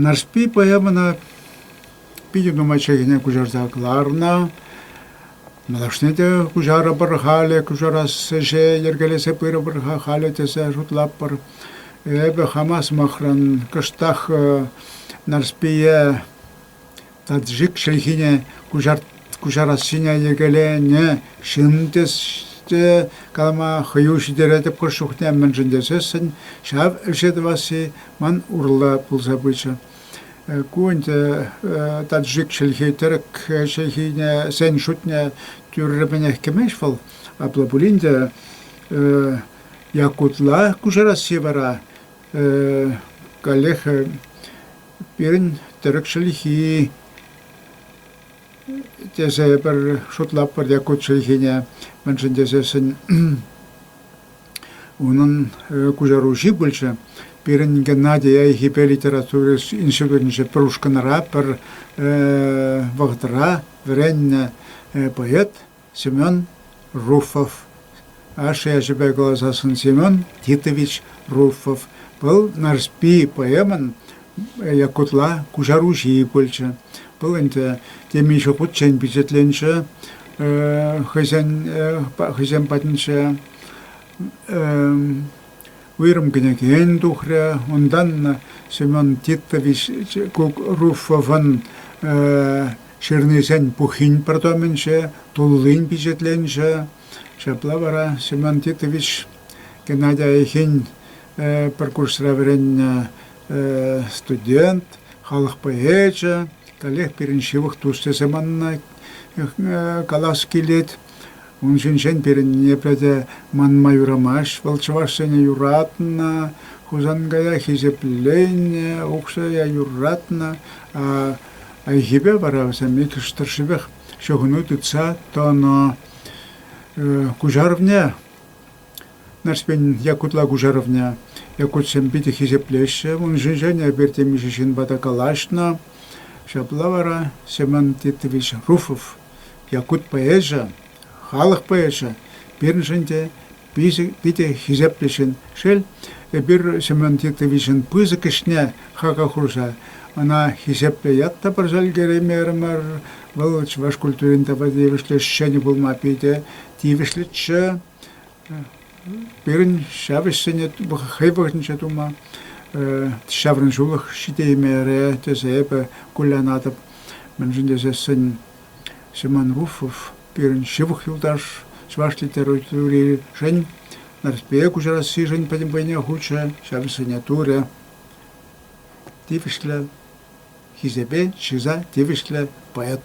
Нарспи поэмӑна питӗ нумай чӗлхене куҫарса кӑларнӑ. Малашне те куҫарӑпӑр халӗ, куҫарас ӗҫе йӗркелесе пырӑпӑр-ха халӗ тесе шутлатпӑр. Эпӗ хама сӑмахран кӑштах Нарспие Таджик чӗлхине куҫарассине йӗркеленӗ ҫын тесе калама хӑю ҫитеретӗп. Хӑш чухне мӗншӗн тесессӗн ҫав ӗҫе тӑвасси ман урлӑ пулса пычӗ. Ку ӗнтӗ таджик чӗлхи тӗрӗк чӗлхине сен шутне тӳррӗпӗнех кӗмест вӑл. Апла пулин те якутла куҫарасси вара каллех Пирӗн тӗрӗк чӗлхи тесе пӗр шутлатпӑр те ку чӗлхене. Мӗншӗн тесессӗн унӑн куҫаруҫи пулчӗ. Пирӗн Геннадий айхипе литература институтӗнче пӗр ушкӑнра, пӗр вӑхӑтра вӗреннӗ поэт. Семен Руфов, ашшӗ ячӗпе каласассӑн Семен Титович Руфов, вӑл Нарспи поэмӑн Якутла куҫаруҫи пулчӗ. Вӑл ӗнтӗ темиҫе хутчен пичетленчӗ хӑйсен хӑйсем патӗнче уйрӑм кӗнекен тухрӗ. Унтан Семен Титович Кук Руфовӑн Ҫырнисен пуххин пӗр томӗнче, туллин пичетленчӗ. Ҫапла вара Семен Титович Геннадий Айхин пӗр курсра вӗреннӗ студент, халӑх поэчӗ, каллех пирӗн ҫывӑх тус тесе манӑна калас килет. Ун ҫинчен пирӗн ниепле те манма юрамасть. Вӑл чӑвашсене юратнӑ, Хусанкая хисепленнӗ, Укҫая юратнӑ. Хайхипе вара вӗсем иккӗш тӑршшӗпех ҫыхӑну тытса тӑнӑ. Куҫарӑвне, Нарспин Якутла куҫарӑвне якутсем питӗ хисеплеҫҫӗ. Ун ҫинчен эпир темиҫе ҫынпа та калаҫнӑ. Ҫапла вара Семен Титович Руфов Якут поэчӗ, халӑх поэчӗ пирӗншӗн те питӗ хисеплӗ ҫын. Шел, эпир Семен Титовичӑн пысӑк ӗҫне хака хурса ӑна хисеплӗ ят та парса ӗлкӗреймерӗмӗр. Вӑл чӑваш культурин тапа тивӗҫлӗ ӗҫченӗ пулма питӗ тивӗҫлӗччӗ. Пирӗн ҫав ӗҫсене хӑй вӑхӑтӗнче тума ҫаврӑн ҫулӑх ҫитеймерӗ тесе эпӗ кулянатӑп. Мӗншӗн тесессӗн Семен Руфов пирӗн ҫывӑх юлташ, чӑваш литературишӗн, Нарспие куҫарассишӗн пӗтӗм вӑйне хучӗ, ҫав ӗҫсене турӗ. Тивӗҫлӗ хисепе чыса тивӗҫлӗ поэт.